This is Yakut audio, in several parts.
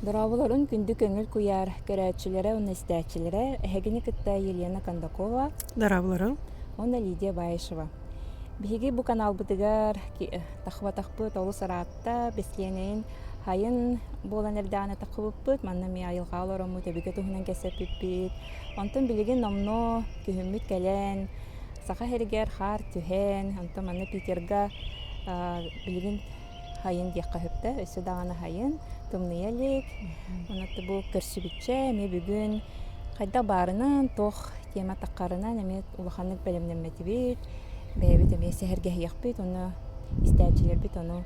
Дорооболорун күндү көҥүл куйаар көрөөччүлэрэ уонна истээччилэрэ эһигини кытта Елена Кондакова Дорооболоруҥ уонна Лидия Баишева. Биһиги бу каналбытыгар тахыбатахпыт олус ыраатта бэстиэнэйин хайын буолан эрдэҕинэ тахыбыппыт манна эмиэ айылҕаҕа олороммут өбүгэ туһунан кэпсэппиппит Онтон билигин номнуо күһүммүт кэлэн, Саха сиригэр хаар түһэн, онтон манна Питерга билигин хайын диэххэ сөптөөх, өссө даҕаны хайын, тымныйа илик. Онон бу көрсүбүччэ эмиэ бүгүн хайдах баарынан, туох тема таххарынан эмиэ улаханнык бэлэмнэммэтибит, бэйэбит эмиэ сэһэргэһиэхпит уонна истээччилэрбит ону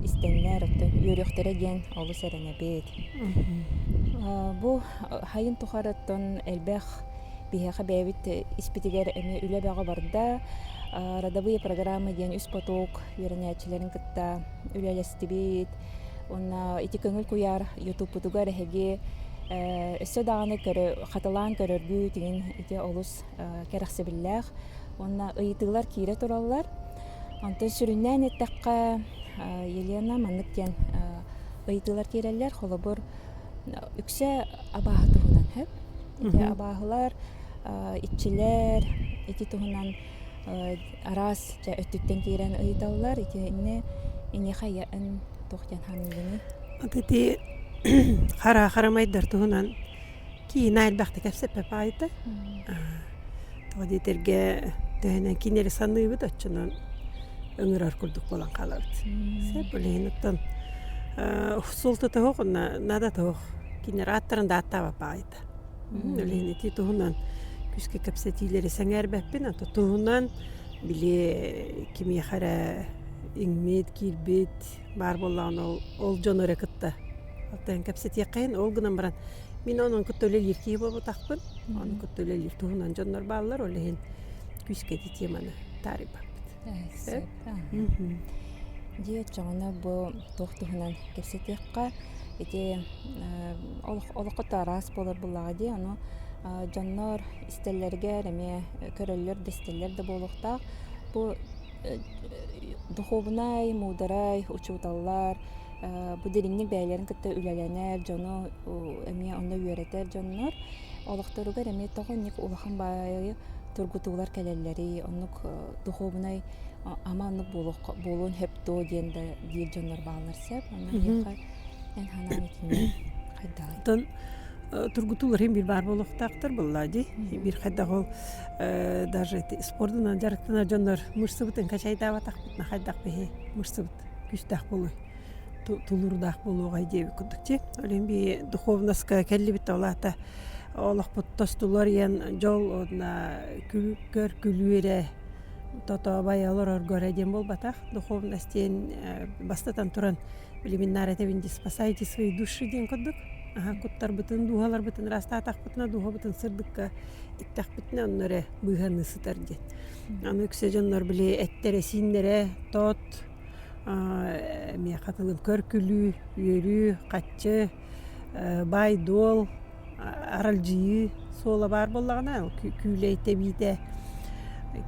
истэннэр, оттон үөрүөхтэрэ диэн олус эрэнэбит. Бу сайын тухарыттан элбэх биһиэхэ бэйэбит испитигэр эмиэ үлэ бөҕө барда. родовые программы диэн үс поток үөрэнээччилэрин кытта үлэлэстибит. Уонна ити көҥүл куйаар ютубпутугар эһиги өссө даҕаны хатылаан көрөргүт иҥин ити олус кэрэхсэбиллээх. Уонна ыйытыылар киирэ тураллар. Онтон сүрүннээн эттэххэ, Елена маннык диэн ыйытыылар тиэрэллэр. Холобур, үксэ абааһы туһунан сөп. Ити абааһылар, иччилэр ити туһунан араас дьэ өттүттэн тиэрэн ыйыталлар. Итиннэ эйиэхэ айа эн туох диэн ханыыгыный? Ити хараа харамайдар туһунан Киинэ элбэхтик кэпсэппэ паайта тоҕо диэтэргэ төһөнөн киинэ эрэ саныыбыт оччонон ыҥырар курдук буолан хаалабыт сеп билигин оттон суол тото суох онно наада суох кинилэр ааттарын да ааттаабат паайта билигин ити туһунан күүскэ кэпсэтиилэри сэҥээрбэппин а то туһунан били кимиэхэ эрэ иҥмит киирбит баар буоллаҕына ол ол дьону эрэ кытта оттон кэпсэтиэххэйин ол гынан баран мин онон кытта үлэлиир киһи буолбатахпын ону кытта үлэлиир туһунан дьоннор бааллар ол иһин күүскэ ити теманы таарыйбаппыт сөп дьиэ оччоҕуна бу туох туһунан кэпсэтиэххэ ити олоххото араас буолар буоллаҕа дии ону дьоннор истэллэригэр эмиэ көрөллөр да истэллэр да буолуохтаах бу духуобунай муударай учууталлар бу дириҥник бэйэлэрин кытта үлэлэнэр дьону эмиэ онно үөрэтэр дьоннор олохторугар эмиэ тоҕо инник улахан баайы тургутуулар кэлэллэрий оннук духуобунай ама оннук буолуон сөп дуо диэн да диир дьоннор бааллар сөп онно эһиэхэ Эн ханаан итинник хайдаҕый? Оттон тургутуу уларыйын биир баар буолуохтаахтар буоллаа дии. Биир хайдах ол даже эти спордунан дьарыктанар дьоннор мышцабытын качайдаабатахпытына хайдах биһи мышцабыт күүстээх буолуой, тулуурдаах буолуоҕай диэбит курдук. Дьэ, ол иһин бии духуобунаска кэллибит да ол аата олохпут тостулуор ийэн дьол уонна күүккөр күлүүрэ, тотообай олорорго эрэ диэн буолбатах. Духуобунас диэн бастатан туран Племеннария этэбин дии спасайте свои души диэн курдук. Аһа куттарбытын, дууһаларбытын ыраастаатахпытына, дууһабытын сырдыкка тиктэхпитинэ онно эрэ быыһаныы сытар диэн. Аны үксэ дьоннор били эттэрэ, сииннэрэ, тоот, миэхэ тылын көркүлүү, үөрүү, хаччы, баай-дуол, аралдьыйыы суола баар буоллаҕына күүлэй тэбиитэ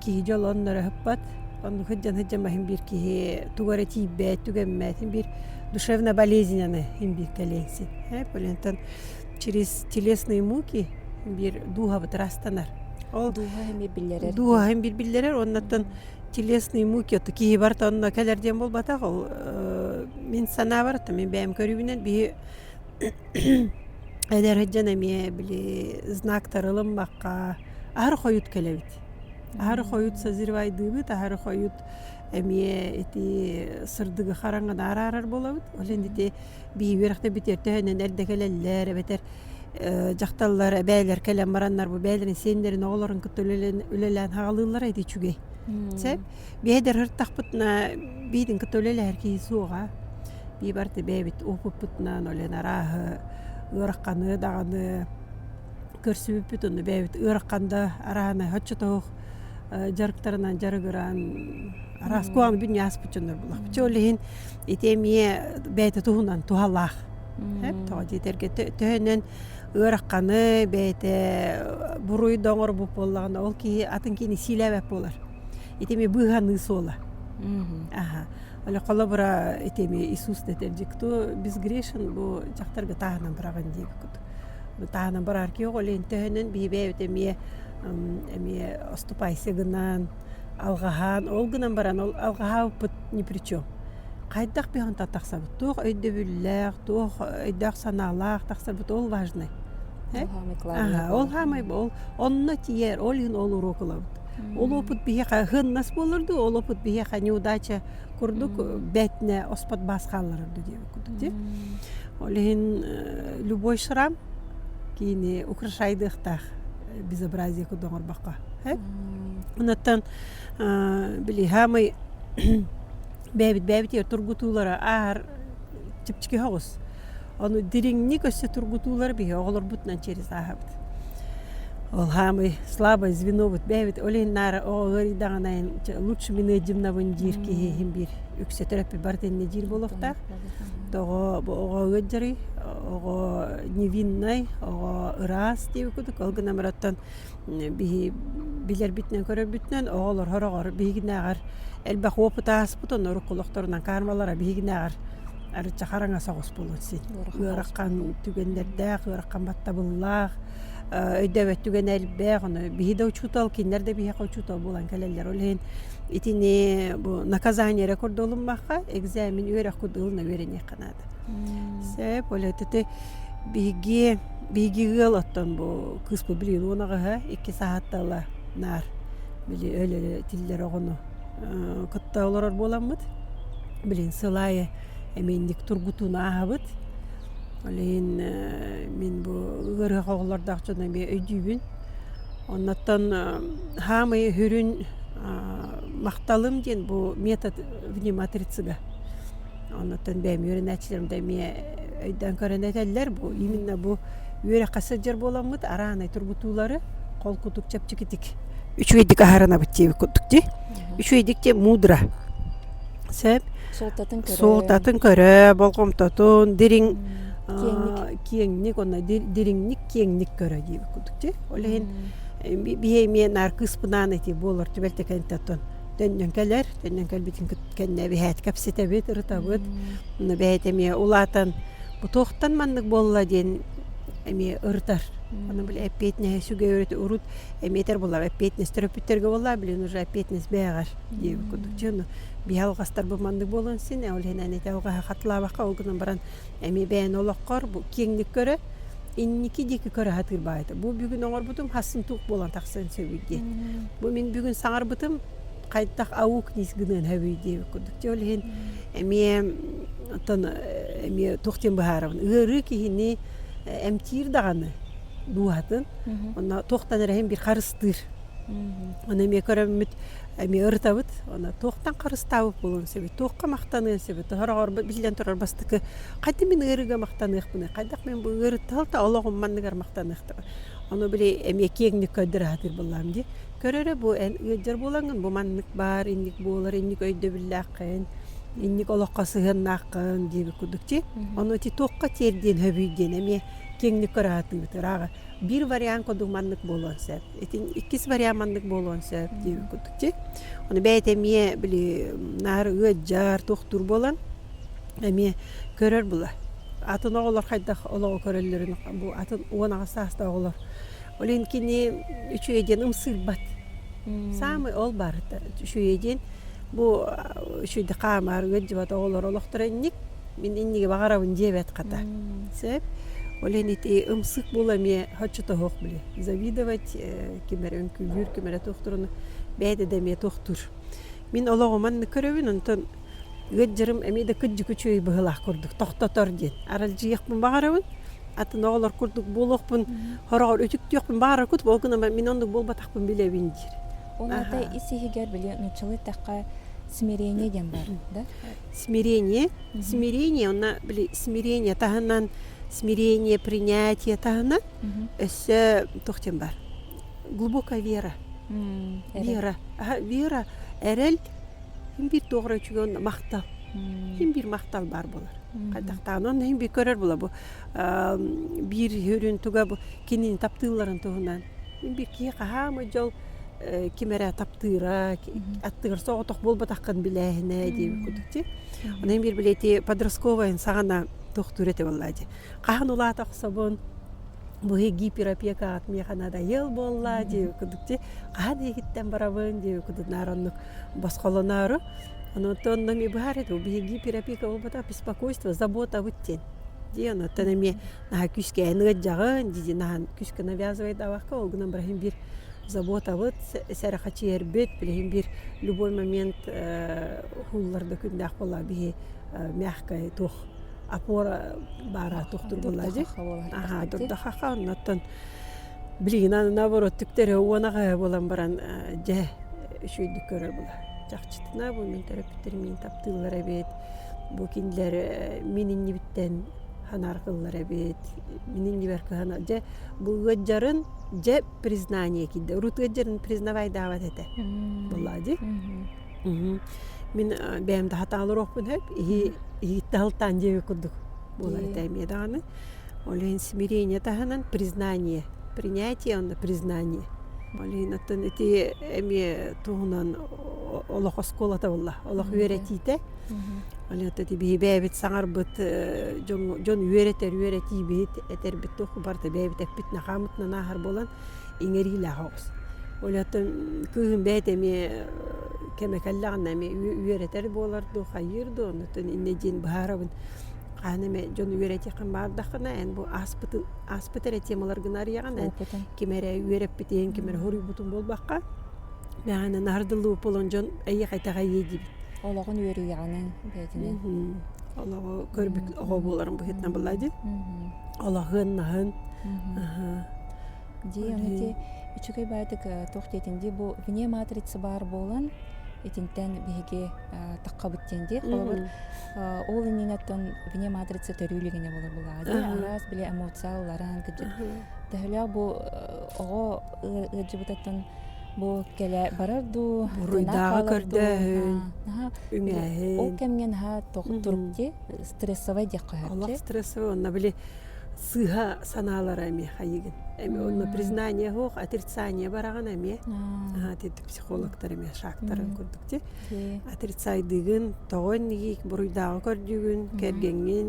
киһи дьолун өрө ыһыппат. Оннук дьон сыдьамай син биир киһи тугу эрэ тиийбэт, түгэммэт, син биир душевно болезненнаны син биир кэлиэҥ син. Оттон через телесные муки син биир дууһабыт ыраастанар. Ол дууһа эмиэ биллэрэр. Дууһа син биир биллэрэр. Оннуттан телесные муки оту киһи барыта онно кэлэр диэн буолбатах. Ол мин санаабар, мин бэйэм көрүүбүнэн биһи Эдэр дьон эмиэ били знак тарылыммакка аһары хойут кэлэбит. Аһары хойут созревайдыыбыт, аһары хойут эмиэ ити сырдыгы хараҥаны араарар буолабыт. Ол иһин ити биһиги үөрэхтэ бүтэр төһөнөн эрдэ кэлэллэр эбэтэр дьахталлар бэйэлэр кэлэн бараннар бу бэйэлэрин сиэннэрин оҕолорун кытта үлэлээн үлэлээн хаалыыллара ити үчүгэй. Сөп? Биһэдэр ыртахпытына биитинкэ төлөлөһөр киһи суоҕа. Бии барыта бэйэбит уопуппутунан олен арааһы ыарахханы даҕаны көрсүбүппүт онно бэйэбит ыарахан да арааһынай оччотооҕу дьарыктарынан дьарыгыран араас куһаҕан бүтүн ааспыт дьоннор буоллахпыт. Чэ ол иһин ити эмиэ бэйэтэ туһунан туһалаах. Эп тоҕо дии этэргэ төһөнөн ыарахханы бэйэтэ буруйда оҥорбут буоллаҕына ол киһи атын киһини сиилээбэт буолар. Итими быыһаныы суола. Аха. Оле холобура итими Иисус дэтэр дьикту бис грешен бу дьахтарга таһынан быраҕын диэги куту. Таһынан барарки оҕо лен төһөнөн биһибээбит эмиэ эмиэ оступайсы гынан алгаһаан ол гынан баран ол алгаһаабыппыт ни при чем. Хайдах биһонта тахсабыт туох өйдөбүллээх туох өйдөөх санаалаах тахсабыт ол важный. Ол хаамай ол онно тиер ол иһин ол уруок ылабыт. Ол уопут биһиэхэ ыһыннас буолар дуу, ол уопут биһиэхэ неудача курдук бээтинэ оспот баас хаалларар дуу диэбит курдук дии. Ол иһин любой шрам киини украшайдыахтаах безобразие курдук оҥорбокко эт. Онуттан били саамай бэйэбит бэйэбитигэр тургутуулары ааһар чэпчэки оҕус. Ону дириҥник өссө тургутуулар биһи оҕолорбутунан через ааһабыт. Ол хаамый слабое звенобут бэйэбит олин наара оҕыгыридаҕанайын лучше мене димнабын диир киһиһин биир үксэ төрөппүт барытынна диир боловтаах. Тоҕо оҕыгыт жарый, оҕо невиннай, оҕо ыраас диэбит кудук ол гына мыраттан биһи билэрбитинэн көрөрбүтүнэн оҕолор сороҕор биһигинээҕэр элбэх уопут ааспыт онно урукку олохторунан каармалара биһигинээҕэр арычча хараҥа соҕус буолуот син ыарахан түгэннэрдээх ыарахан баттабыллаах өйдөөбөт түгэнэ элбэх ону биһи да учуутал кинилэр да биһиэхэ учуутал буолан кэлэллэр ол иһин итини бу наказание эрэ көрдө олуммахха экзамен үөрэх курдук ылына үөрэниэххэ наада Сээп олөтө те биһиги биһиги ыал оттон бу кыыспыт билигин уонаҕаһа икки саһаттала наар били өлөлө тиллэр оҕону кытта олорор буоламмыт билигин сыл аайы эмиийник тургутууну ааһабыт ол иһин мин бу ыарыһах оҕолордоох дьону эмиэ өйдүүбүн оннуттан хаамый үрүн махталым диэн бу метод внематрицига Оннуттан бэйэм үөрэнээччилэрим да эмиэ өйдөөн көрөн этэллэр бу именно бу үөрэххэ сылдьар буоламмыт араанай тургутуулары хол кутук чэпчэкитик үчүгэйдик аһарынабыт диэбит курдук дии үчүгэйдик диэн мудра сөп суолтатын көрө болҕомтотун дириҥ киэҥник онно дириҥник киэҥник көрө диэбит курдук дии ол иһин биһиги эмиэ наар кыыспынаан эти буолар түбэлтэ кэнниттэн Төннөн кэлэр, төннөн кэлбитин кэннэ эбиһээт кэпсэтэбит, ырытабыт. Ону бэйэт эмиэ улаатан бу туохтан маннык буолла диэн эмиэ ырытар. Ону били эппиэтинэһи сүгэйрити урут эмиэтэр булар эппиэтинэс төрөппүттэргэ буоллаа билигин уже эппиэтинэс бэйэҕэр диэбит курдук. Чэ ону биһи алҕастар бу маннык буолуон син ээ ол иһинэн ити алҕаһы хатылаабакка ол гынан баран эмиэ бэйэни олоххор бу киэҥник көрө инники диэки көрө сатыыр баайата бу бүгүн оҥорбутум хассын туох буолан тахсан сөбүй диэн бу мин бүгүн саҥарбытым хайдах аук нис гыныан сөбүй диэбит курдук дьэ ол иһин эмиэ оттон эмиэ туох диэн быһаарабын ыарыы киһини эмтиир даҕаны дууһатын онно туохтан эрэ иһин bir харыстыыр оны эмиэ көрөммүт Эмиэ ырытабыт, аны туохтан харыстаабыт буолуон сөбүй, туохха махтаныан сөбүй, сороҕор, биллэн турар, бастакы хайдах мин ыарыыга махтаныахпыный, хайдах мин бу ыарыы талта олоҕум манныгар махтаныахтабай, ону били эмиэ киэҥник көрдөрө сатыыр буоллаҕым дии. Көрөрө бу эн ыалдьар буолаҥҥын, бу маннык баар, инник буолар, инник өйдөбүллээххин, инник олоххо сыһыаннааххын диэбит курдук дии. Ону ити туохха тиэрдиэн сөбүй диэн эмиэ киэҥник көрө сатыыбыт, ырааҕы. Биир вариант курдук маннык буолуон сөп. Итин иккис вариант маннык буолуон сөп диир курдук дьи. Ону бэйэтэ эмиэ били наар ыалдьар, туохтуур буолан эмиэ көрөр булар. Атын оҕолор хайдах олоҕу көрөллөрүн бу атын уон аҕыс саастаах оҕолор. Ол иһин кини үчүгэй диэн ымсыырбат. Саамай ол баарыта үчүгэйэ диэн бу үчүгэйдик хаамар, ыалдьыбат оҕолор олохторо инник. Мин иннигэ баҕарабын диэбэт хата. Сөп. Ол иһин ити ымсык була эмиэ оччотооҕу били завидовать ким эрэ үҥкүүлүүр ким эрэ туохтуур ону бэйэтэ да эмиэ туохтуур. Мин олоҕум манна көрөбүн онтон ыат дьарым эмиэ да кырдьык үчүгэй быһыылаах курдук тохтотор диэн аралдьыйыахпын баҕарабын атын оҕолор курдук буолуохпун хороҕор үтүктүөхпүн баҕарарбыт ол гынан мин оннук буолбатахпын билэбин диир. Ол аата ис иһигэр били нууччалыы эттэххэ смирение диэн баар да смирение, смирение уонна били смирение таһынан смирение, принятие таһынан өссө туох диэн баар глубокая вера. Вера. Вера эрэл ким биир туоҕура үчүгэй махтал. Ким биир махтал баар буолар. Хайдахтааҕын онно ким биир көрөр була бу биир үрүн туга бу Кинини таптыылларын туһунан мин биир киһи хаһаамый дьол ким эрэ таптыыра, аттыгар соҕотох буолбатаххын билээһинэ диэбит курдук дии. Онон мин били ити подростковайын саҕана тохтуур этэ буоллаа дии. Хаһан улаата охсобун бу гиперопека аҕат миэхэ надоел буоллаа дии курдук дии. Хаһан иһиттэн барабын дии курдук наар оннук босхолоноору. Онуттан онно эмиэ быһаарыт ол биһиги гиперопека буолбатах беспокойство, забота бут диэн. Дии онуттан эмиэ күүскээн ыалдьаҕын дии-дии наһан күүскэ навязывает авахка ол гынан бары иһин биир заботабыт сэрэхэчийэрбит билигин биир любой момент уулларда күннээх буоллаҕа биһи мягкая туох опора баара туох тургулла дии аха дурдахаха оннуттан билигин наоборот түктэрэ уонаҕа буолан баран дьэ үчүгэйдик көрөр була чахчытына бу мин төрөппүттэрим мин таптыыллар эбит бу кинилэр мин иннибиттэн Анар кыллар эбит минин нибер кыһана дьэ бу ыадьарын дьэ признание кийде урут ыадьарын признавайдаабат этэ буоллаа дии мин бэйэм да хатаалыруохпун сөп иһи иһитте халтаан диэби курдук буолар этэ эмиэ даҕаны ол иһин смирение таһынан признание принятие уонна признание ол иһин оттон ити эмиэ туһунан олох оскуолата буолла олох үөрэтиитэ Олята ити биһи бэйэбит саҥарбыт дьоҥҥо дьон үөрэтэр үөрэтии биһи этэрбит туоху барыта бэйэбит эппит нахаамытынан ааһар буолан иҥэриилээх оҕус. Олятон кыыһым бэйэтэ эмиэ кэмэ кэллэҕинэ эмиэ үөрэтэр буолар дуу хайыыр дуу оннуттан иннэ диэн быһаарабын. Хаһан эмэ дьон үөрэтиэххин баардаххына эн бу ааспытын ааспыт эрэ темалар гына арыйаҕын эн ким эрэ үөрэппитиҥ ким эрэ хоруйбутун буолбакка мээнэ наһардылыы буолан дьон эйиэхэ итэҕэйиэ диибит. олоҕун үөрүйэҕинэн бэйэтинэн олоҕу көрбүт оҕо буоларын быһыытынан былай дии олоһун наһын дии аны ити үчүгэй баайдык туох диэтин дии бу вне матрица баар буолан итинтэн биһиги таххабыт диэн дии холобур ол иннинэттэн вне матрица төрүүлүгэнэ болор булаҕа дии араас били эмоция уларан кыдьыт төһөлөөх бу оҕо ыалдьыбытыттан Бу кэлэ барар дуу буруйдааҕы көрдөөһүн үҥээһин ол кэмҥэ наһаа туруктти стрессовай диэххэ олох стрессовой онно били сыыһа санаалара эмиэ хайыгын эми онно признание суох отрицание бараҕын эмиэ титтик психологтар эмиэ шактарын курдук ти отрицайдыгын тоҕо иннигик буруйдааҕы көрдүгүн кэргэҥҥин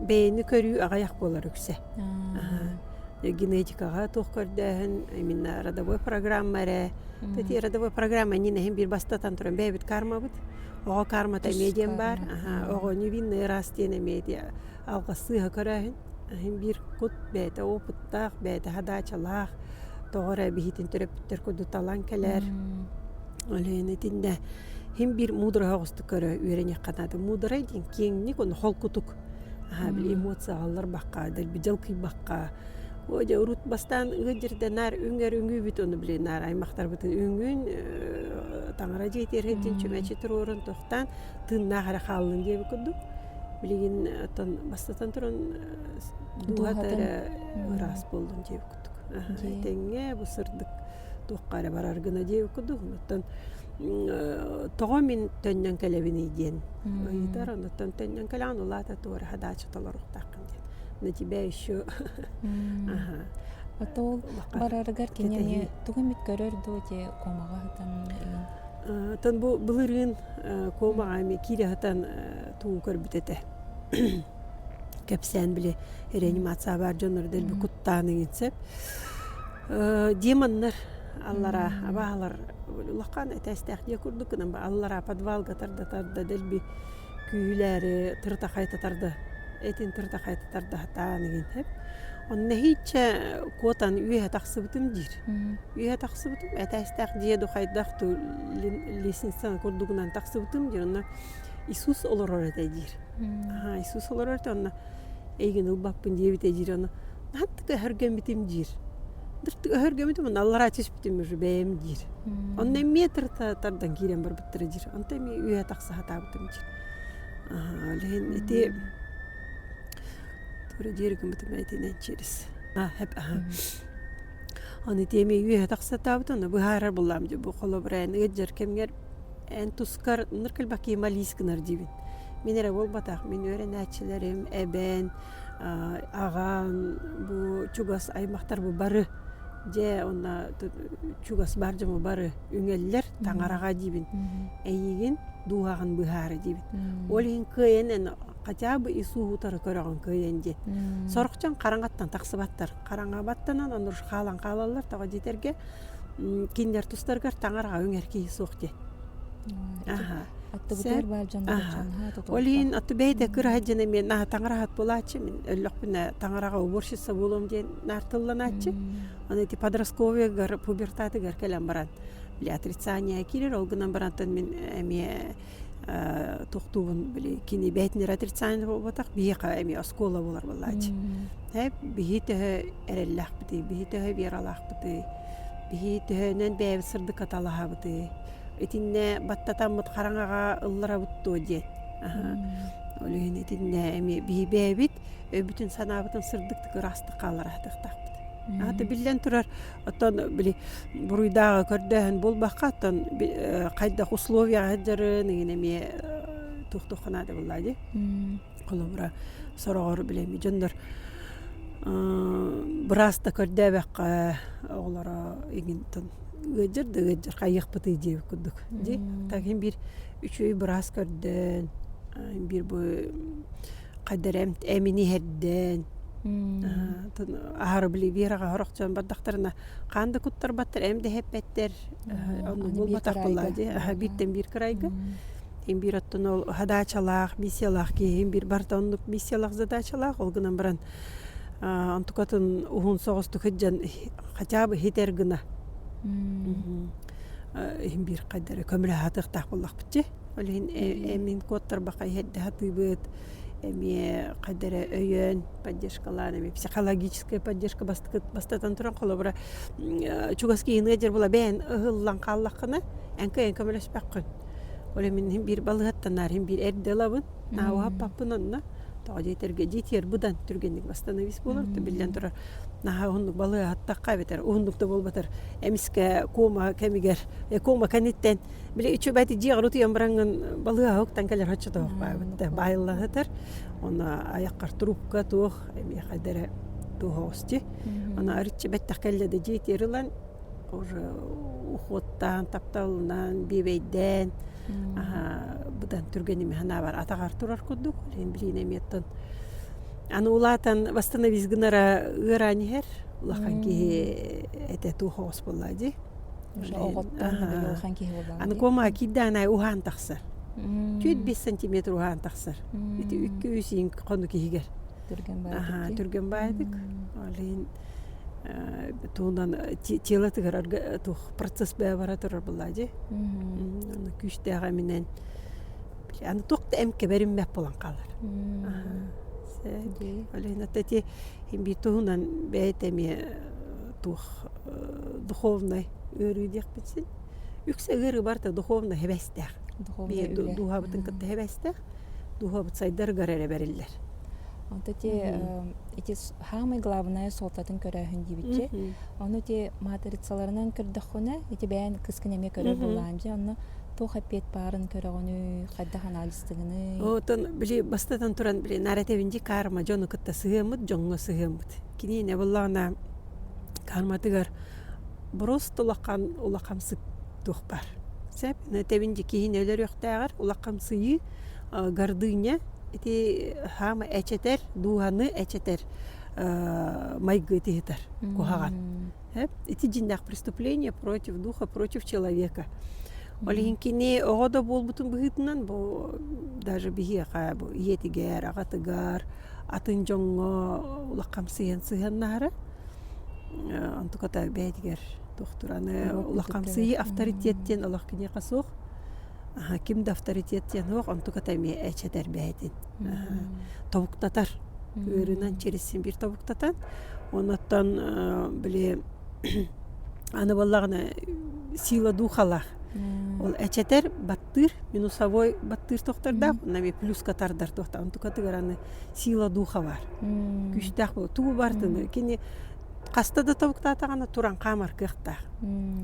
бэйэни көрүү аҕайах буолар үксэ генетикаҕа туох көрдөөһүн именно родовой программа эрэ эти родовой программа иннин эһин биир бастатан туран бэйэбит кармабыт оҕо кармата эмиэ диэн баар оҕо невинный раз диэн эмиэ ити алгыс сыыһа көрөөһүн иһин биир кут бэйэтэ опыттаах бэйэтэ хадаачалаах тоҕо эрэ биһитин төрөппүттэр курдук талан кэлэр Өлөөн итиннэ иһин биир мудураһа оҕустук көрө үөрэниэххэ наада муударай диэн киэҥник ону холкутук Аһаа били эмоциялар бахха, дэлби дьалкыйбакка, оо дьэ урут бастаан ыалдьырда наар үҥэр үҥүүбүт ону били наар аймахтарбытын үҥүн таҥара дьиэтигэр сылдьан чүмэчи туруоран тохтоон тыыннаах эрэ хааллын диэбит курдук билигин оттон бастатан туран дууһата эрэ ыраас буоллун диэбит Тэҥҥэ бу сырдык туохха эрэ барар гына диэбит курдук, оттон тоҕо мин төннөн кэлэбиний диэн ыйытар, онтон төннөн кэлэҕин улаата туораһа даача толоруохтааххын диэн. На тебя еще Отол барарыгар кини эмиэ тугу эмит көрөр дуо дии куомаҕа сытан оттон бу былырыын куомаҕа эмиэ киирэ сытан тугу көрбүт этэ. кэпсээн били реанимация баар дьоннор дэлби куттаан иҥин сөп дии маннар аллараа абааһылар улахан этээстээх дьиэ курдук гынан аллараа подвалга тарда тарда дэлби күүһүлээри тырытахайтатар да этин тырытахайтатар да сатаан иҥин сөп онно иһииччэ куотан үөһэ тахсыбытым диир үөһэ тахсыбытым этээстээх дьиэ ду хайдах ту лестницаны курдугунан тахсыбытым диир онно иисус олорор этэ диир аа Иисус олорорто онно эйигин ылбаппын диэбитэ диир ону наһаттык өһөргөммүтүм диир дыртык өһөргөммүтүм ону аллараа түспүтүм уже бэйэм диир онно эмиэ тырыта тардан киирэн барбыттара диир онто эмиэ үөһэ тахса сатаабытым диир аха лэһин ити туора диэри гыммытым итинэн через хэп аха аны ити эмиэ үөһэ тахса сатаабыт ону быһаарар буллаам дии бу холобура эн ыт дьэр кэмҥэр эн тускар ныр кэлбакки малис гынар диибин Мин эрэ буолбатах, мин үөрэнээччилэрим, эбээн, аҕаан бу чугас аймахтарбы бары дьэ онно чугас баар дьону бары үҥэллэр таҥараҕа диибин эйиигин дууһаҕын быһаары диибин ол иһин кыайан эн хотя бы ис уһуутары көрөҕүн кыайан диэн сорохчон хараҥаттан тахсыбаттар хараҥа баттанан ону хаалан хаалаллар тоҕо диэтэргэ кинилэр тустарыгар таҥараҕа үҥэр киһи суох диэн аттыбытыгар баар дьон ол иһин отту бэйэтэ кыраһат дьэн эмиэ наһа таҥараһат буолааччы мин өллөхпүнэ таҥараҕа уборщица буолуом диэн наартылланааччы аны ити подростковыйгар пубертатыгар кэлэн баран бля отрицание киирэр ол гынан барантан мин эмиэ тохтуубун били кини бэһэтиннэр отрицание буолбатах биһиэхэ эмиэ оскуола буолар буоллааччы эп биһи төһө эрэллээхпитий биһи төһө вералаахпытый биһи төһөнөн бэйэбит сырдыкка талаһабытый итиннэ баттатаммыт хараҥаҕа ылларабыт дуо диэн ол иһин итиннэ эмиэ биһи бэйэбит өйбүтүн санаабытын сырдыктык ыраастык хааллараһытыахтаахпыт ата биллэн турар Оттон били буруйдааҕы көрдөөһүн буолбакка, оттон хайдах условияҕа сылдьарын игин эмиэ туох туохха наада буоллаа дии. Холобура сороҕор били эми дьоннор бырааста көрдөөбөккө оҕолоро игинтэн ыалдьар да ыалдьар хайыахпытый диэбит курдук дии. Так иһин биир үчүгэй быраас көрдөөн биир бу Хайда эрэ эмини иһэрдээн аһары били Вираҕа сорох дьон бардахтарына хаан да куттарбаттар эм да иһэппэттэр ону булбатах буоллаа дии бииртэн биир кырайга им биир оттон ол хадаачалаах миссиялаах киһим биир барыта оннук миссиялаах задачалаах ол гынан баран онтукатын уһун соҕустук сыдьан хотя бы иһитэр гына иһин биир хайда эрэ көмөлөһө атыахтаах буоллахпыт дии Ол иһин эмин куоттарбаха иһэрдэ сатыыбыт, эмиэ хайдары өйөөн поддержкалаан эми психологическая поддержка бастатан туран холобура чугас киһини ыдьар була бэйэн ыһыллан хааллаххына эҥкэй эҥкэ мөлөспөххүн. Ол эмин иһин биир балыһаттан наар иһин биир эрдэ ылабын наабуһа аппаппын онно тоҕо дьиэ этэргэ дьиэтигэр быдан түргэнник восстановись буолар то биллэн турар наһаа уһуннук балыһа аһаттахха эбэтэр уһуннук да буолбатар эмискэ куома кэмигэр куома кэнниттэн Били үчүбэти дьиэҕэр утуйан бараҥҥын балыыһаҕа уктан кэлэр оччотоох баабытта баайыллаһытар. Онно айаххар трубка туох миэхэдэ эрэ туоһоости ана ырыччы бэттэх кэллэ да дьиэтигэр ылан уже уходтаан тапталынан биэбэйдээн быдан түргэн эми санаабар атаҕар турар курдук лин билиин эмиэттэн аны улаатан восстановись гынара ыараан иһэр улахан киһи этэ туоһоос буолла дии Аныкуома киирдээнай уһаан тахсар. Түүт бис сантиметр уһаан тахсар. Ити үккү-үс иин хону киһигэр. Түргэн баайдык. Ол иһин туунан тела тыгырарга туох процесс бэйэ бара турар булла дьи. Аны күүстээх эминен. Аны туохта эм кэберин мэп булан калар. Ол иһин ата ти химби туһунан бэйэт эми туох духовнай ыарыы диэхпит син үксэ ыарыы барыта духовнай һэбэстээх духовнай ыарыы дууһабытын кытта һэбэстээх дууһабыт сайдарыгар эрэ бэриллэр онто те ити самый главное суолтатын көрөөһүн диибитчи ону те матрицаларынан көрдөххүнэ ити бэйэн кыскын эмиэ көрөр буоллаам дьэ онно туох эппиэт баарын көрөҕүнүй хайдах анализтыгыный оттон били бастатан туран били наративинди карма дьону кытта сыһыаммыт дьоҥҥо сыһыаммыт Киниэнэ быллаҕына карматыгар брост улахан улахамсык туохпар. Сөп тэбин дьэ киһини өлөрүөхтээҕэр улахамсыйыы гордыня ити хаама эчэтэр дууһаны эчэтэр майгы ити ыһытар куһаҕан. Сөп ити дьиннээх преступление против духа против человека. Ол иһин кини оҕо да буолбутун быһыытынан бу даже биһиэхэ бу ийэтигэр, аҕатыгар атын дьоҥҥо улах хамсыйан сыһыаннаһара онтуката бэйэтигэр туохтураны улах хамсыы авторитет диэн олох киниэхэ суох ким да авторитет диэн суох онтуката эмиэ эчэтэр бэйэтин тобуктатар ыарыынан чиристин биир тобуктатан оннуттан били аны буоллаҕына сила духала ол эчэтэр баттыыр минусовой баттыыр тохтордоох уонна эмиэ плюска тардар туохтаах тукатыгар аны сила духа баар күүстээх буолу тугу бартыны кини хаста да тобуктаатаҕына туран хаамар кыахтаах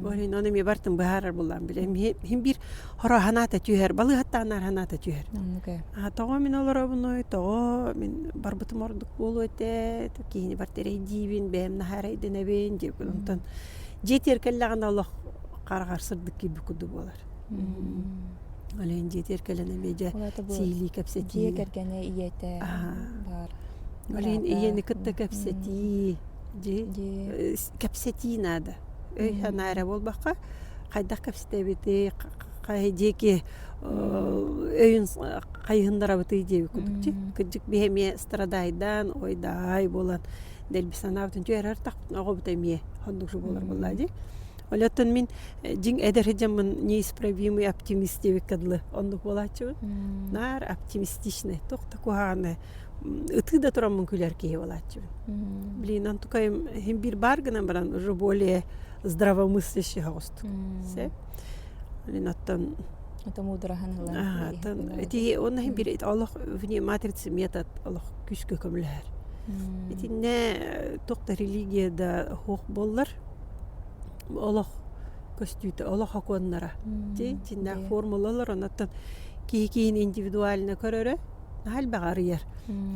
орин ону эмиэ бартын быһаарар буллаан билэ мин биир хоро санаата түһэр балыыһаттаанаар санаата түһэр тоҕо мин олоробунуй тоҕо мин барбытым ордук буолуо этэ киһини бар эрэйдиибин бэйэм наһаарайдынабин диэбин онтон дьиэтигэр кэллэҕинэ олох хараҕар сырдык киирбит курдук буолар Алиһын дьиэтигэр кэлэн эмиэ дьэ сиилии кэпсэтии. Дьиэ кэргэнэ ийэтэ баар. Алиһын ийэни кытта кэпсэтии, кэпсэтии наада. Өй-санаа эрэ буолбакка, хайдах кэпсэтэбитий, диэки өйүн хайыһыннарабытый диэби курдук. Кырдьык биһи эмиэ страдайдаан, ойдаай буолан дэлби санаабытын түһэрэр атахпытын оҕобут эмиэ оннук буолар буоллаа дии. Оттон мин дьиҥ эдэр дьоммун неисправимый оптимист диэбиккэ дылы оннук буолааччыбын. Наар оптимистичный туох да куһаҕаны ытыы да тураммын күлэр киһи буолааччыбын. Блин онтукайым иһин биир баар гынан баран уже более здравомыслящих оҕустук. Сэп. Блин оттон это мудраһын ылан. Ити онно иһин биир олох вне матрицы метод олох күскө көмөлөһөр. Итиннэ туох да религия да хох боллар олох көстүүтэ олох окуоннара дьиннээх формулалар оннуттан киһи киһини индивидуально көрөрө наһаа элбэҕи арыйар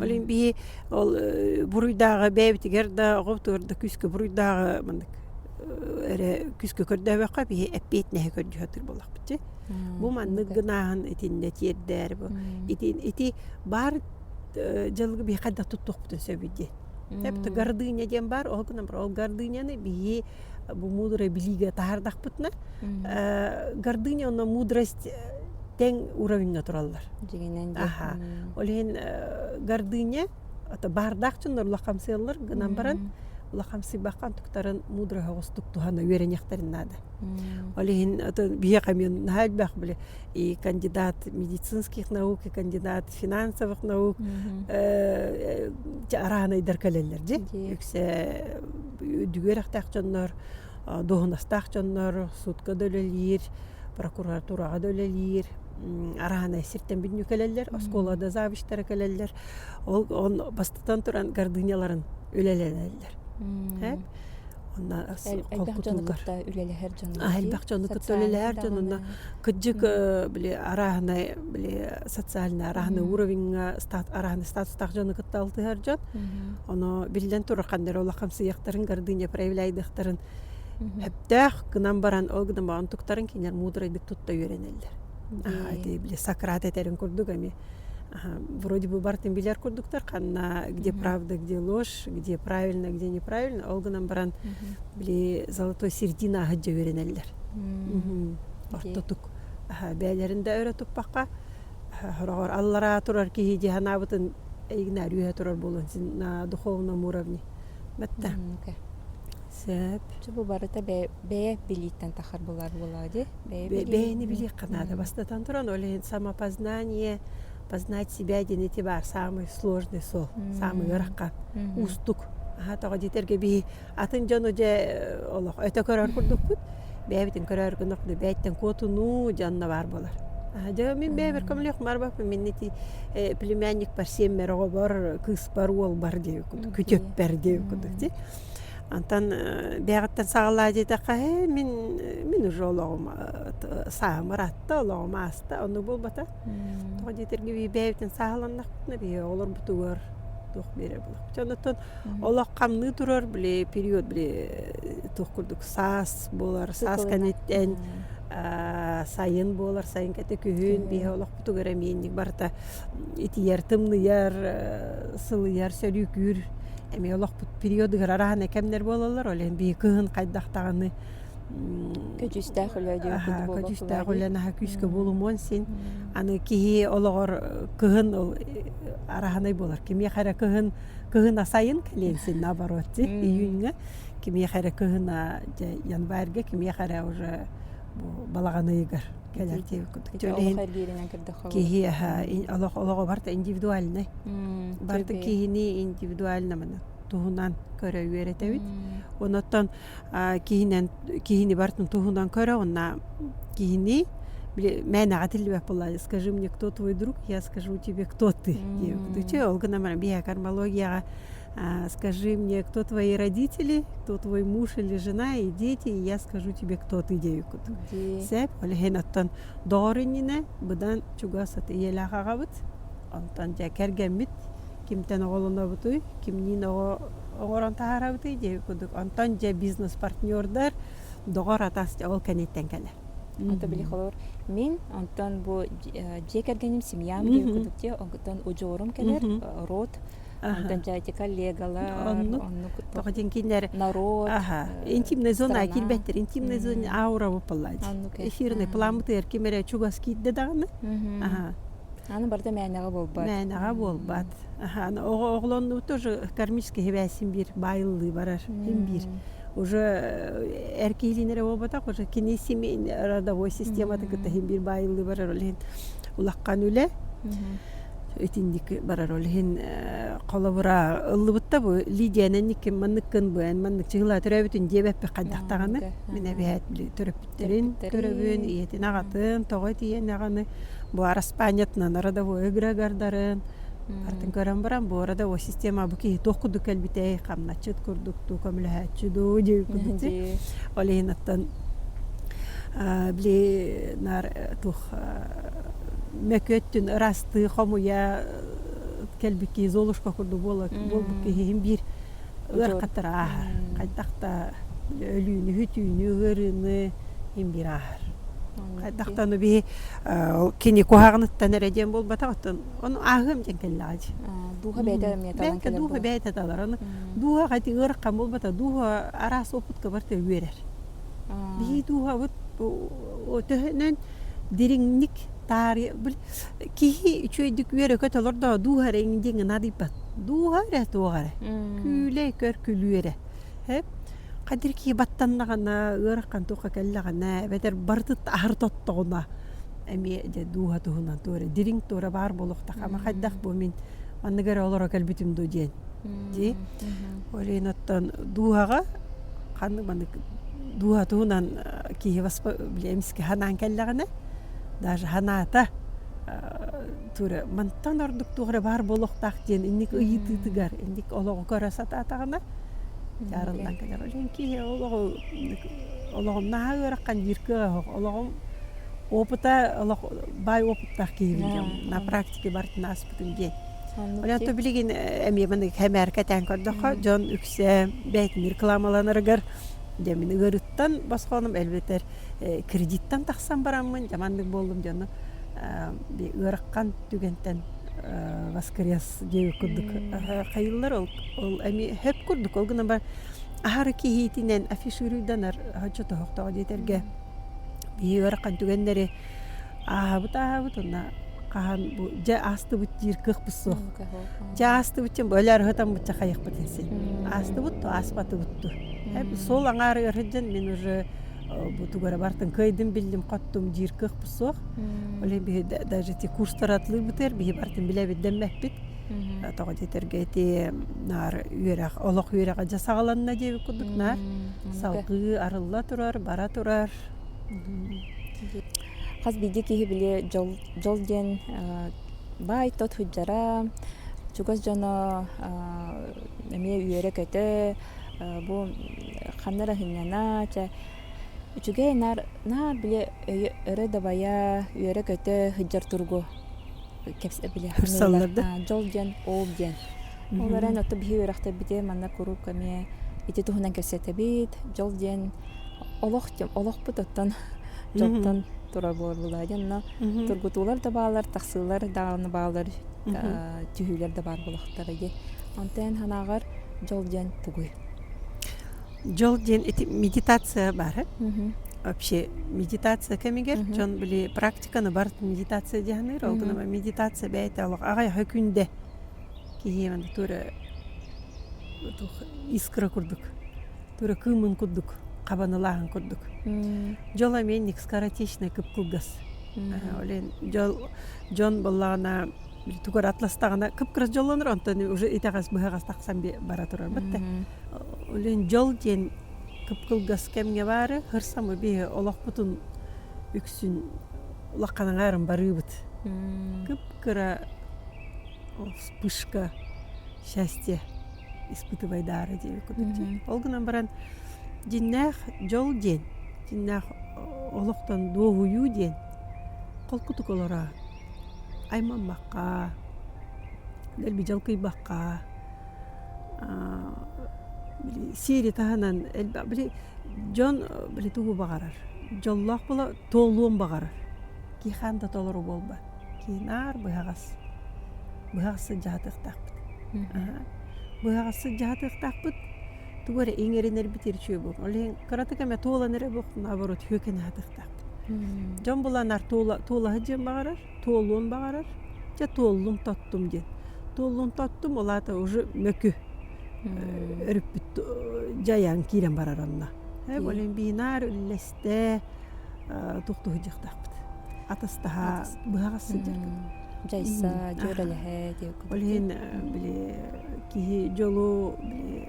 ол иһин биһи ол буруйдааҕы бэйэбитигэр да оҕобутугар да күүскэ буруйдааҕы маннык эрэ күүскэ көрдөөбөккө биһи эппиэтинэһи көрдүү сатыыр буоллахпыт дьи бу маннык гынааһын итиннэ тиэрдээри ити ити баар дьылгы биһиэхэ да туттуохпутун сөбүй дии Эбэтэ гордыня диэн баар оһугунан ол гордыняны биһи бу мудрость билиигэ таһаардахпытына гордыня онно мудрость теҥ уровеньга тураллар аха ол иһин гордыня ото баардаах дьоннор улахамсыаллар гынан баран улахамсыйбакка антуктарын мудрость оҕустук туһана үөрэниэхтэрин наада ол иһин ото биһиэхэ эмиэ наһаа элбэх били и кандидат медицинских наук, и кандидат финансовых наук араанайдар кэлэллэр дьи үксэ үрдүгү үрэхтээх дьоннор дуоһунастаах дьоннор судко да үлэлиир прокуратураҕа да үлэлиир араанай сиртэн бүгүнү кэлэллэр оскуола да завучтара кэлэллэр ол бастатан туран гордыняларын үлэлэнэллэр үлэлэһэр холкутугар дьону кытта үлэлэһэр дьону элбэх дьону кытта үлэлэһэр дьон онно кыддьык били арааһынай били социальный арааһынай уровеньҥа арааһынай статустаах дьону кытта алтыһар дьон оно биллэн турар ханнары олох хамсыйыахтарын гардыня проявляйдыахтарын өптөөх гынан баран ол гынан баран туктарын кинер мудрайдык тутта үөрэнэллэр аһаатыы били сократ этэрин курдук эми вроде бы бартын билэр курдуктар ханна где правда где ложь где правильно, где неправильно, ол гынан баран били золотой середина аһы дьэ үөрэнэллэр. Ортотук бэйэлэрин да өрө туппакка хороҕор аллараа турар киһи дии санаабытын эйигинээр үөһэ турар буолуон син духовном уровне баттар сөп бу барыта бэйэ билииттэн тахар булар буолаа ди бэйэни билиэххэ наада бастатан туран ол иһин самопознание познать себя диэн ити баар саамай сложный сол саамай ыарахан уустук аһа тоҕо диэтэргэ биһи атын дьону дьэ олох өтө көрөр курдукпут бэйэбитин көрөөр гынах да бэйэттэн куотунуу дьонно баар болар дьэ мин бэйэбэр көмөлүөх марбаппын минни ти племянник парсиэммэр оҕобор кыыспар уолбар диэбит куту күтүөппэр диэбит куту ти Онтон бэйэҕиттэн саҕалаа диэтэххэ ээ мин мин уже олоҕум сааһым ыратта олоҕум ааста ону буолбата тоҕо диэтэргэ бэйэбитин сааһыланнахпытына биһиги олорбутугар туох биэрэр буолуохпут онтон олох хамныы турар били период били туох курдук саас буолар саас кэнниттэн сайын буолар сайын кэтэ күһүн биһиги олохпутугар эмиэнник барыта итийэр, тымныйар, сылыйар, сөрүүкүүр эмиэ олохпут периодыгар араһана кэмнэр буолаллар. Ол иһин биһиги кыһын хайдах даҕаны көдьүүстээх үлэ көдьүүстээх үлэ наһаа күүскэ буолумуон син. Аны киһи олоҕор кыһын ол араһанай буолар. Кимиэхэ эрэ кыһын кыһына сайын кэлиэн син наоборот июньҥа, кимиэхэ эрэ кыһына дьэ январьга, кимиэхэ эрэ уже бу балаҕан ыйыгар. кэлэр киһиэхэ олох олоҕубарта индивидуальнай барта киһини индивидуальнамана туһунан көрө үөрэтэбит оноттон киһинэн киһини бартын туһунан көрө онна киһини мээнэҕэ тиллибэп була скажи мне кто твой друг я скажу тебе кто ты че ол гына бия кармологияга скажи мне кто твои родители кто твой муж или жена и дети и я скажу тебе кто ты диэбиккут сээп ол иһин оттон доор иннинэ быдан чугас аты ийэлээх аҕабыт онтон дьэ кэргэммит кимтэн оҕолонобутуй кимниин оҕо оҥорон таһаарабытый диэбит курдук онтон дьэ бизнес партнердар доҕор атас дьэ ол кэнниттэн кэлэр Ата били холор мин онтон бу дьиэ кэргэним семьям диэбит курдук те онтон удьуорум кэлэр род Гончаатика легалар оннук тоҕо диэн кинилэр народ интимная зона киирбэттэр интимная зона аура боппаллаат эфирный пламытыгар ким эрэ чугас киирдэ даҕаны аны барыта мээнэҕэ буолбат мээнэҕэ буолбат оҕолонуу тоже кармический хибээсин биир баайыллыы барар им биир уже эр киһилиинэрэ буолбатах уже кини семейный родовой системата кытта хим биир баайыллыы барар ол иһин улахан үлэ итинники барар ол иһин холобура ыллыбытта бу Лидиянан никкин манныккын бу эн маннык чыгылаа төрөөбүтүн диэбэппин хайдахтаҕына мин эбээт төрөппүттэрин төрөбүн ийэтин аҕатын тоҕо тиийэн аҕаны бу араспаанньатынан родовой эгрегардарын атын көрөн баран бу арада о система бу киһи туох курдук кэлбитэй хамначчыт курдук дуу көмөлөһөөччү дуу дии курдук ол иһин оттон били наар туох мөкүөттүн ырастыы, хомуйа кэлбикки золушка курдук буолбут киһи иһин биир ыарахаттар ааһар. Хайдах да өлүүнү, хүтүүнү, ыарыыны иһин биир ааһар. Хайдах да ону биһи кини куһаҕаныттан эрэ диэн буолбатах, оттон ону ааһыам диэн кэллэҕэ дии. Дууһа бэйэтэ эмиэ талан кэлэр буолуо. Бэйэтэ талар. Аны дууһаҕа ити ыарахан буолбата, дууһа араас опытка барыта үөрэр. Бии дууһабыт төһөнөн дириҥник таарыйа бил киһи үчүгэйдик үөрэ-көтө олордо да дууһа эрэ иҥин диэҥҥэ наадыйбат. Дууһа эрэ туох эрэ күүлэй көр күлүү эрэ ээ хадыр киһи баттаннаҕына ыарахан туохха кэллэҕинэ эбэтэр барытыттан аһары тоттоҕуна эмиэ дьэ дууһа туһунан туох эрэ дириҥ туора баар буолуохтаах ама хайдах бу мин маннык эрэ олоро кэлбитим дуу диэн дии Ол иһин оттон дууһаҕа ханнык маннык дууһа туһунан киһи баспа били эмискэ санаан кэллэҕинэ даже санаата тура мантан ордук туох эрэ баар буолуохтаах диэн инник ыйытыытыгар инник олоҕу көрө сатаатаҕына дьаарыллан кэлэр. Ол иһин киһи олоҕу олоҕумнааһын ыараххан диир кыаҕа суох. Олоҕум опыта олох баай опыттаах киһи бил дьон на практике барытын ааспытым диэн. Онон билигин эмиэ хэмээрке этээн көрдөххө дьон үксэ бэйэтин рекламаланарыгар дьэ мин ыҥырыттан босхоном элбэтэр кредиттан тахсан бараммын дьэ маннык буоллум дьону ыарахан түгэнтэн воскрес диэки курдук хайыыллар ол эмиэ сөп курдук ол гынан баран аһары киһиитинэн афишируйданар оччотооҕу диэтэргэ биһиги ыарахан түгэннэри Ааһабыт ааһабыт уонна хаһан бу дьэ аастыбыт диир кыахпыт суох. Дьэ аастыбыт дьон өлөөр ытаммычча хайыахпыт ин син. Аастыбыт дуо ааспатыбыт дуо. Суол аҥаары өр сылдьан мин уже бу тугура бартын кыайдым биллим хоттум диир кыахпыт суох. Ол иһин биһи даже те курстары атылыырбытыгар биһи бартын билэбит дэммэппит. Тоҕо диэтэргэ ити наар үөрэх олох үөрэҕэ дьэ саҕаланна диэбит курдук наар. Салгыы арылла турар бара турар. Хас биирдии киһи били дьол дьол диэн баай-то сылдьара, чугас дьоно эмиэ үөрэ-көтө бу ханна эрэ сынньана чэ үчүгэй наар наар били өрө дабайа үөрэ-көтө сылдьар туругу дьол диэн ол диэн ол эрэн отту биһи үөрэхтэбити манна куруук эмиэ ити туһунан кэпсэтэбит дьол диэн олох олохпут оттон дьолтон турар буолла дьэ онно тургутуулар да баалар тахсыылар даҕаны баалар түһүүлэр да баар буолахтара дьэ онтон санааҕар дьол диэн тугуй Дьол диэн ити медитация баар вообще медитация кэмигэр дьон били практиканы барыта медитация дьаһаныыр ол гынан медитация бэйэтэ олох аҕай аһы күндэ киһи аны туора искра курдук туора кыымын курдук хабанылааһын курдук дьол эмиэ скоротечный кып кылгас ол дьон дьон буоллаҕына тугар атластаҕына кып-кырас дьоллонор онтон уже итэҕэс быһаҕас тахсан бара турарбыт да олен дьол диэн кып-кылгас кэмҥэ баары хырсамы биһи олохпутун үксүн улаханаҥаарым барыыбыт кып-кыра вспышка счастье испытывайдаары диэби кубиктии ол гынан баран дьиннээх дьол диэн дьиннээх олохтон дуоһуйуу диэн холкутук олороо аймаммакка, дэлби дьалкыйбакка били сири таһынан элбэх били дьон били тугу баҕарар дьоллоох буола туолуон баҕарар кии хаан да толору буолбат кии наар быһаҕас быһаҕас сыдьаһатыахтаахпыт быһаҕас сыдьаһатыахтаахпыт тугу эрэ иҥэринэрбит ерчүэ буолуо ол иһин кыратык эмэ туолан эрэ буох наоборот сүөкэн аһатыахтаах дьон буланар туолаһы диэн баҕарар туолуон баҕарар дьэ туоллум тоттум диэн туоллун тоттум улаата уже мөкү өрүппүт дьайан киирэн барар онно болин бинаар үллэстэ тухтуһу дьахтаахпыт атастаһа быһаҕас сылдьар дьайса дьүөрэлэһэ ол иһин били киһи дьолу били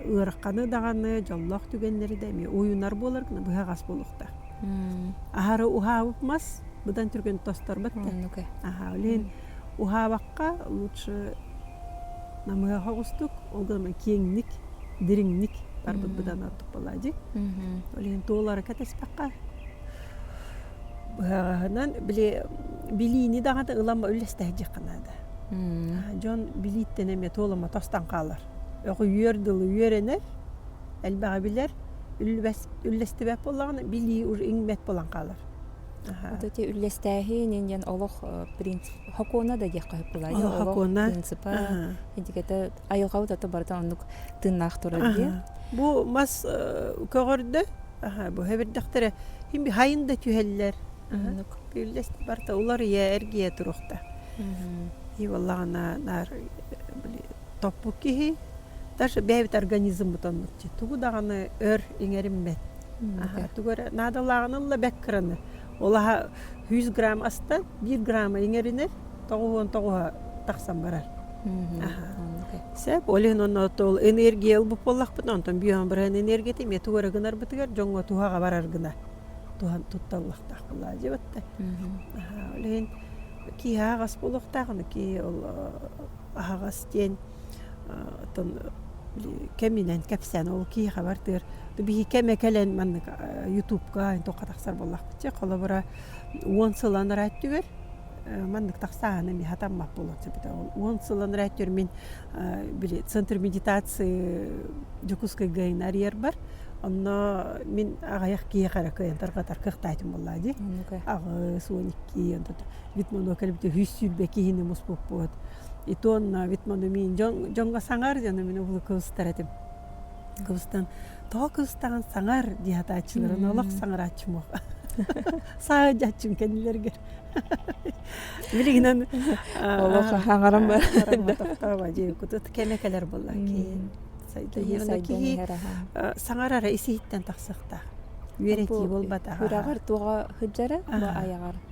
ыараханы даҕаны дьоллоох түгэннэри да эмиэ уйунар буолар гына быһаҕас буолуохтаах аһары уһаабыт мас быдан түргэн тосторбот да аха лин уһаабакка лучше намыаха оҕустук ол гынан киэҥник дириҥник барбыт быдан ордук буолади лин туолара кэтэспэккэ быһаҕаһынан били билиини даҕаны ылама үллэстэһэ дьиқанаада дьон билииттэн эмиэ туолама тостан хаалар Өҕүйүөр дылы үөрэнэр, элбэҕи билэр, үллэстибэт буоллаҕына билии уже иҥмэт буолан хаалар. Вот эти үллэстээһин ин диэн олох принцип сокуона да диэххэ бывает сокуона принципа дигэтэ айылҕа утата барыта оннук тыыннаах турар дии бу мас көҕөрдө бу хэбирдэхтэрэ хин хайын да түһэллэр үллэсти барыта уларыйа эргийэ туруохта и буоллаҕына наар топпут киһи даже бэйэбит организммыт оннукчу тугу даҕаны өр иҥэриммэт тугу эрэ наадалааҕын ылла бэк кыраны ол аһа сүүс грамм аста биир грамма иҥэринэр тоҕус уон тоҕуһа тахсан барар сөп ол иһин онно ол энергия ылбыт буоллахпыт онтон бүйэм быраһын энергията эмиэ тугу эрэ гынарбытыгар дьоҥҥо туһаҕа барар гына туһан тутталлахтаах кылаа дьыбытта ол иһин киһи аһаҕас буолуохтаах аны киһи ол аһаҕас диэн оттон кэминэн кэпсээн ол киһиэхэ бардыар биһиги кэмэ кэлэн маннык ютубка туохха тахсар буоллахпыт чэ холобура уон сыл анараа өттүгэр маннык тахсааны эмиэ сатаммат буолуохсубута уон сыл анараа өттүгэр мин били центр медитации дьокуускайга ин арыйарбар онно мин аҕыйах киһиэхэ эрэ кыайан тарҕатар кыахтаатым буоллаа дии аҕыс уон икки Вит моно кэлбите үһүс сүүрбэ киһини муспуппут. Итонна вит моно миин дьон дьонго саҥар дьону мин обуну кылыстар этим. Кылыстан тоҕо кылыстаҕын саҥар дии сатааччыларын олох саҥарааччым уох саайдьааччым кэннилэргэр билигинэн олох саҥарам тохтооба дии кутут кэмэ кэлэр буолла киин сайдыһыы саҥарара исиһиттэн тахсыахтаах үөрэтии буолбатаҕа күрэҕэр туоҕа сылдьара айаҕар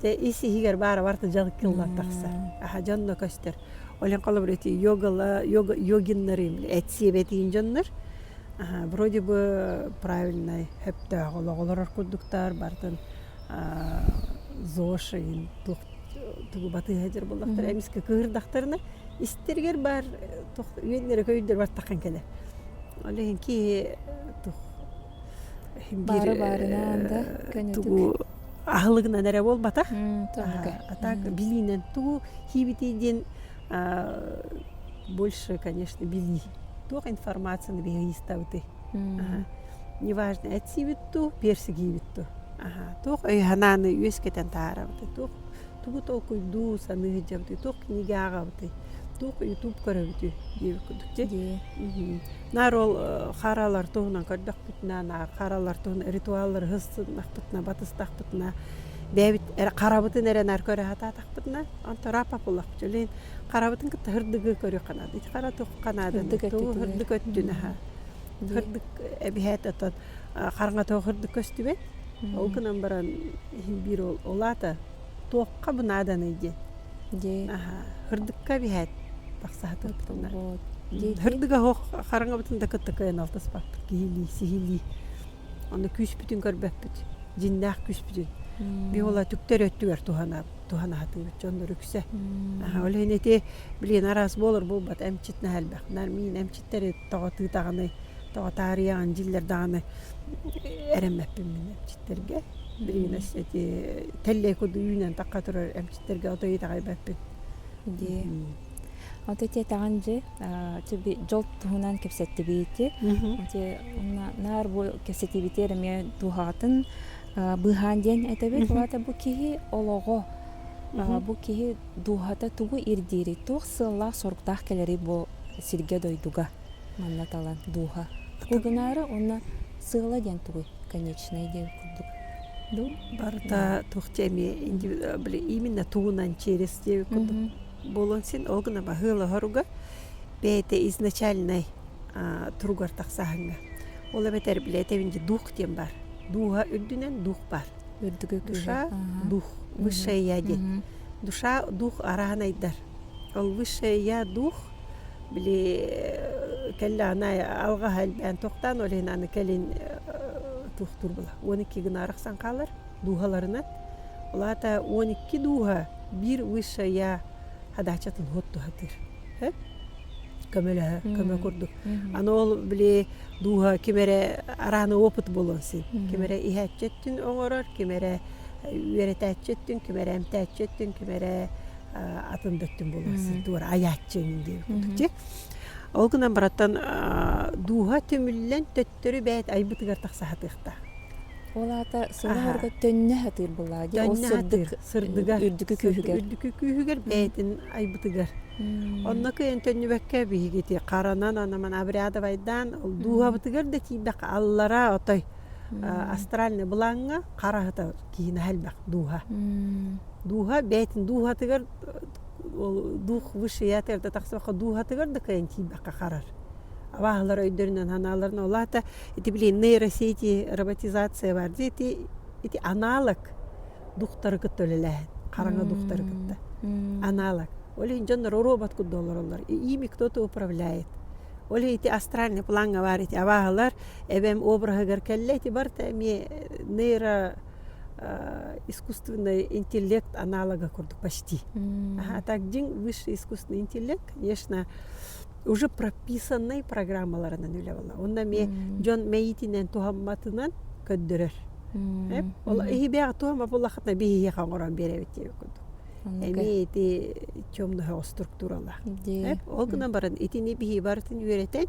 Те ис иһигэр баара бар дьал кыллар тахсар. Аха дьон да көстөр. Олен холобур эти йогала йога йогиннары этсиэбэтиин дьоннор вроде бы правильнай хөптөөх олоҕолорор курдуктар бартын зошайын туох тугу батыыһа дьэр боллохтор эмискэ кыырдахтарына истэригэр баар туох үөннэрэ көйдөр бартахан кэлэр. Ол иһин киһи тух бары баарынаан да тугу аһылыгынан эрэ буолбатах а так билиинэн тугу хийбитий диэн больше конечно били туох информацияны биһиристабытый неважно этсибит ту персигиибит ту туох өйханааны үөскэтэн таарабытый туох тугу толкуйдуу саныы сылдьабытый туох книга ааҕабытый туох ютуб көрөбүтүй диэбит курдук дьэ Наар ол харалар туһунан көрдөхпүтүнэ харалар туһунан ритуаллары һыссыннахпытына батыстахпытына бэйэбит эрэ харабытын эрэ наар көрө сатаатахпытына онто рапап улахча лин харабытын кытта һырдыгы көрүөххэ наада ити хара тухха наада һырдык өттүн аһа һырдык эбиһээт отон хараҥа тоох һырдык көстүбэт ол гынан баран иһин биир ол улаата туохха бу нааданый диэн дии Һырдыкка биһээт тахсаһытыппытыннар Һырдыга оһох хараҥабытын да кытта кыайан алтаспаппыт киһилии сиһилии Онно күүспүтүн көрбөппүт дьиннээх күүспүтүн Биһи уола түктэр өттүгэр туһанаһытыбыт дьоннор үксэ Ол иһин ити билигин араас буолар буолбат эмчит наһаа элбэх мин эмчит Тэри тоҕо тыытаҕыный, тоҕо таарыйаҕын дьиллэр даҕаны эрэммэппин мин эмчиттэргэ. Билигин эти тэллэй курдук үүнэн тахха турар эмчиттэргэ ото итэҕэйбэппин. Дии. Ото этиэтэҕин дьи дьол туһунан кэпсэттибити. Ити онно наар бу кэпсэтиибити эмиэ дууһаҕытын быыһаан диэн этэбит. Бу киһи олоҕо. Бу киһи Дууһата тугу ирдиирий, туох сыаллаах-соруктаах кэлэрий бу сиргэ-дойдуга манна талан дууһа? Кугунаара уонна сыала диэн тугуй, конечнай диэн курдук? Ну, барыта туох диэми именно тугунан через диэби курдук буолуон син ол гына баһыылаһоруга бэйэтэ изначальнай туругар тахсааһыҥҥа. Ол эбэтэр билэтэбин дии, дух диэн баар. Дууһа үрдүнэн дух баар. душа дух высшее я диэн душа дух араан айдар ол высшее я дух били кэллэ ана алгаһа элбээн тохтаан ол иһин аны кэлин туохтуурбула он икки гына арахсан хаалар дууһаларынан ол аата он икки дууһа биир высшая хадаачатын хотто сатыыр көмөлөһө көмө курдук аны ол били дууһа ким эрэ арааны опыт буолуон син ким эрэ иһээччи өттүн оҥорор ким эрэ үөрэтээччи өттүн ким эрэ эмтээччи өттүн ким эрэ атын да өттүн буолуон син туора айааччы эҥин диэбит курдук дьи ол гынан баратан дууһа түмүллэн төттөрү бэйэт айбытыгар тахсаһатыахтаах ол аата сылаһарга төннө сатыыр былаа ди ол сырдык үрдүкү күүһүгэр үрдүкү күүһүгэр бэйэтин айбытыгар. Онно кыйын төннүбэккэ биһигити харанан анаман обрядовайдаан дууһабытыгар да тиийбэккэ аллара отой астральный былаҥҥа хараһыта киһини хальбах дууһа. Дууһа бэйтин дууһатыгар дух высшеятыгар да тахсыбакка дууһатыгар да кыйын тиийбэккэ харар. Абааһылар өйдөрүнэн ханааларын олаата ити блин нейросети роботизация бар ди ити анаалык Духтары кытта үлэлээһин. Хараҥа духтары кытта. Анаалар. Ол иһин дьоннор оруобат курдук олороллор. Ими кто-то управляет. Ол иһин ити астральный плаҥҥа баар ити абааһылар эбэм обраһыгар кэллэ ити барыта эмиэ нейро искусственный интеллект аналога курдук почти. Аха так дьиҥ высший искусственный интеллект, конечно, уже прописаннай программаларынан үлэ буолла. Онно эмиэ дьон мэйиитинэн туһамматынан көрдөрөр. Ол иһибээх туома буллахтына биһиэхэ оҥорон биэрэбит диэбит курдук. Эмиэ ити чомноһоҕо структуралаах. Ол гынан баран итини биһи барытын үөрэтэн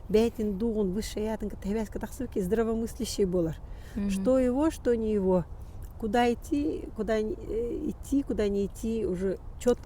бэйэтин дуоҕун высшей аатын кытта хабээскэ тахсыбыкки здравомыслящий буолар. Что его, что не его. Куда идти, куда идти, куда не идти уже четко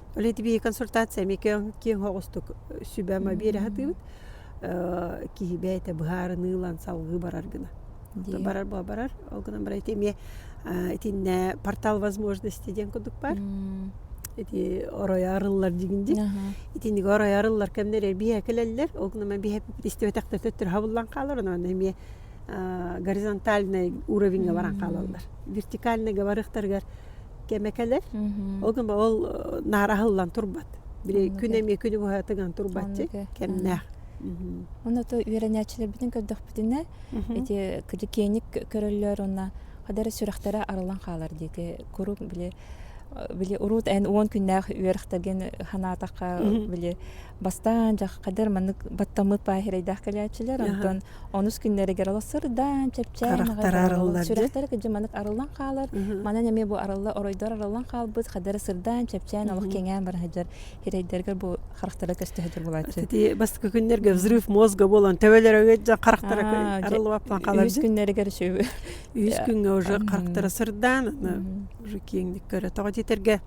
Оле тибиһи консультация эми киэҥ оҕустук сүбэма биэрэ сатыыбыт киһи бэйэтэ быһаарыныылан салгыы барар гына. Барар буола барар ол гынан баран ити эмиэ итиннэ портал возможности диэн курдук баар. Ити оройо арыллар дигин ди. Итиниги оройо арыллар кэмнэригэр биһэ кэлэллэр. Ол гынан баран биһэ истибэтэхтэр төттөрү хабыллан хаалар онон эмиэ горизонтальный уровеньга баран хаалаллар. Вертикальныйга барыахтарыгар кэме кэлэр. Ол гына ол наар аһыллан турбат. Били күн эмиэ күнү быһа тыган турбаччы кэмнээх. Онута үөрэнээччилэрбитин көрдөхпүтүнэ ити киликиэник көрөллөр уонна хадара сүрэхтэрэ арылан хаалар диэки куруук били били урут эн уон күннээх үөрэхтэргин санаатахха били бастаан дьаххадыр маннык баттаммыт паахирайдаах кэлээччилэр онтон онус күннэригэр оло сырдаан чэпчээн сүрэхтэрэ кыдьы маннык арыллан хаалар манан эмиэ бу арылла оройдор арыллан хаалбыт хадара сырдаан чэпчээн олох кеңээн баран сылдьар хирейдэргэр бу харахтара көстөһөтөр булааччы ити бастакы күннэргэ взрыв мозга болон төбөлөрө харахтара арыллыбаптан хаалар үс күннэригэр үшү үс күнгэ уже харахтара сырдаан уже киэҥник көрө тоҕо титерге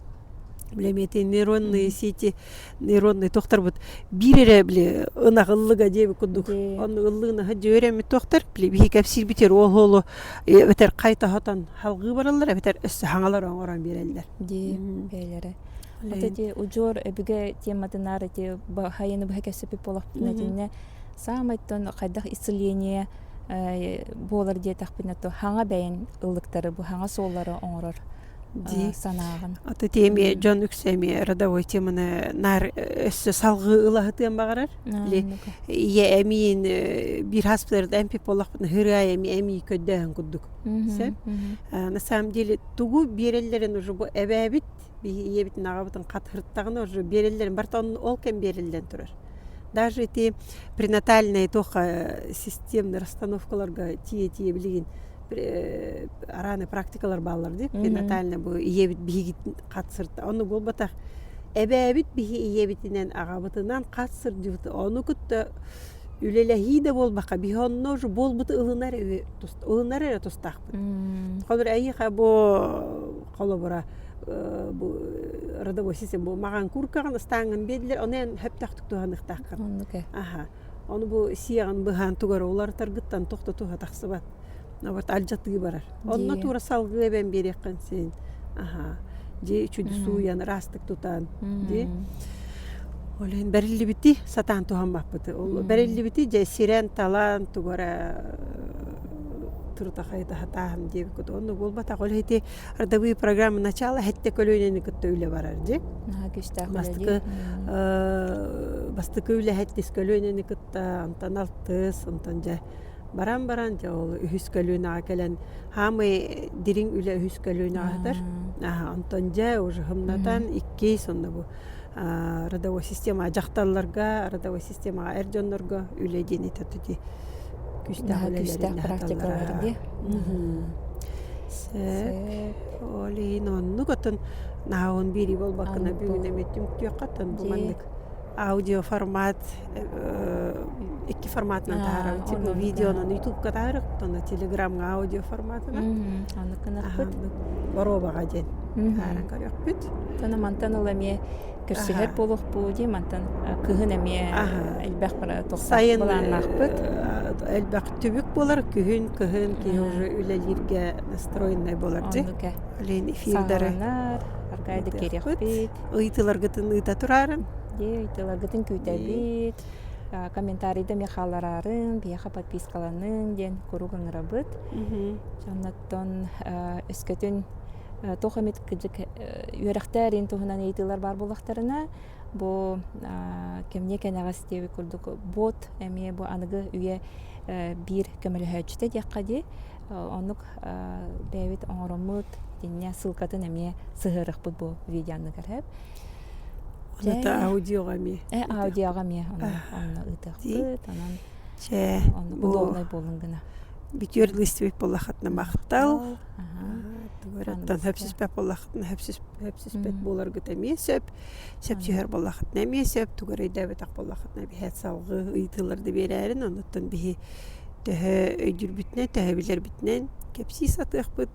лемити нейронные сети народный тохторбут биир эрэ били ынах ыллыга диэбит курдук онно ыллыынаһа дьүөрэммит тохтор били биһи кэпсиирбитигэр ол оолу эбэтэр хайтаһатан халгыы бараллар эбэтэр өссө хаҥалар оҥорон биэрэллэр дии бэйэлэрэ хата ити удьуор өбүгэ тематынаар ити хайыны быһа кэпсэппит буолахпытына итиннэ саамайтан хайдах исцеление буолар диэтэхпинэ то хаҥа бэйэн ыллыктары бу хаҥа суоллары оҥорор дии санааҕын аты тиэмиэ дьон үксэмиэ родовой теманы наар өссө салгыы ылаһытыан баҕарар или ийэ эмиин биир хаспытарыт эмпи полахпын ыһырыа эми эми көрдөһөн курдук сөп на самом деле тугу биэрэллэрин уже бу эбээбит ийэбитин аҕабытын хатырыттаҕына уже биэрэллэрин барта ол кэм биэриллэн турар даже те пренатальные тоха системный расстановкаларга тие тие билигин арааны практикалар бааллар дии перинатальный бу ийэбит биһиги хатсырта ону буолбатах эбээбит биһи ийэбитинэн аҕабытынан хатсырдьыбыт ону кытта үлэлэһии да буолбакка биһи онно буолбут ылынар ылынар эрэ тустаахпыт хонор эйиха бу холобура бу родовой система бу маған куркаҕын ыстааңын биэдилэр ону эн хөптөхтүк туһаныктааххын аха Ону бу сиэҕин быһаан тугара уларытаргыттан тохтотуһа тахсыбат. Вот алдьатыы барар. Онно Дии. туура салгыы эбэн биэриэххин син. Аһаа. Дьи үчүгү сууйан ыраастык тутан. Дии. Ол иһин бэриллибити сатаан туһаммаппыты. Ол бэриллибити дьэ сирэн талан тугу эрэ турутахайы таһатааһын диэбиккит. Онно буолбатах. Ол иһин ити родовые программы начала хэтте көлүөнэни кытта үлэ барар дик бастакы бастакы үлэһэттис көлүөнэни кытта антан алтыс онтон дьэ баран баран дьэ ол үһүс көлүөнэҕэ кэлэн хаамый дириҥ үлэ үһүс көлүөнэҕэ атар онтон дьэ уже хымнатан иккис онно бу родовой системаҕа дьахталларга родовой системаҕа эр дьоннорго үлэ диэн этэ ол иһин оннук отон наһаа он биирии буолбаккына бүгүн эмиэ түмтүөххэ оттон бу маннык аудиоформат икки форматынан таһаарабыт видеонан ютубка таһаарыахпыт онно телеграмҥа аудио форматынан анныкынарпыт боруобаҕа диэн таһааран көрүөхпүт ону мантан ыла эмиэ көрсүһэр буолуохпут дии мантан кыһын эмиэ элбэх бара тохтоох былааннаахпыт элбэх түбүк буолар күһүн кыһын киһи уже үлэлииргэ настроеннай буолар дии олень эфирдары аркайда керекпит ыйтыларгытын ыыта турарын Дии тылагытын күүтэбит комментарийда эмиэ хааллараарын биһиэхэ подпискаланыҥ диэн куруук ыҥырабыт оннуттан өскөтүн туох эмит кыдьык үөрэхтээриин туһунан ыйытыылар баар буоллахтарына бу кэмниэ кэнэҕэс диэбит курдук бот эмиэ бу аныгы үйэ биир көмөлөһөөччүтэ диэххэ дии оннук бэйэбит оҥороммут иннинэ ссылкатын эмиэ сыһыарыахпыт бу видеоныгар Оната аудиоҕа эмиэ. Ээ аудиоҕа эмиэ онно ыытыахпыт онон онно удобнай буоллун гына. Бүтүөр листибит боллахатына махтал. Тугуораттан хөпсүспэт боллахатына хөпсүспэт буоларгыт эмиэ сөп. Сөп түһэр боллахатына эмиэ сөп. Тугу эрэ өйдөөбөтөх боллахатына биһиэт салгыы ыйытыыларда биэрээрин. Онуттан биһи төһө өйдүүрбүтүнэн, төһө билэрбитинэн кэпсии сатыахпыт.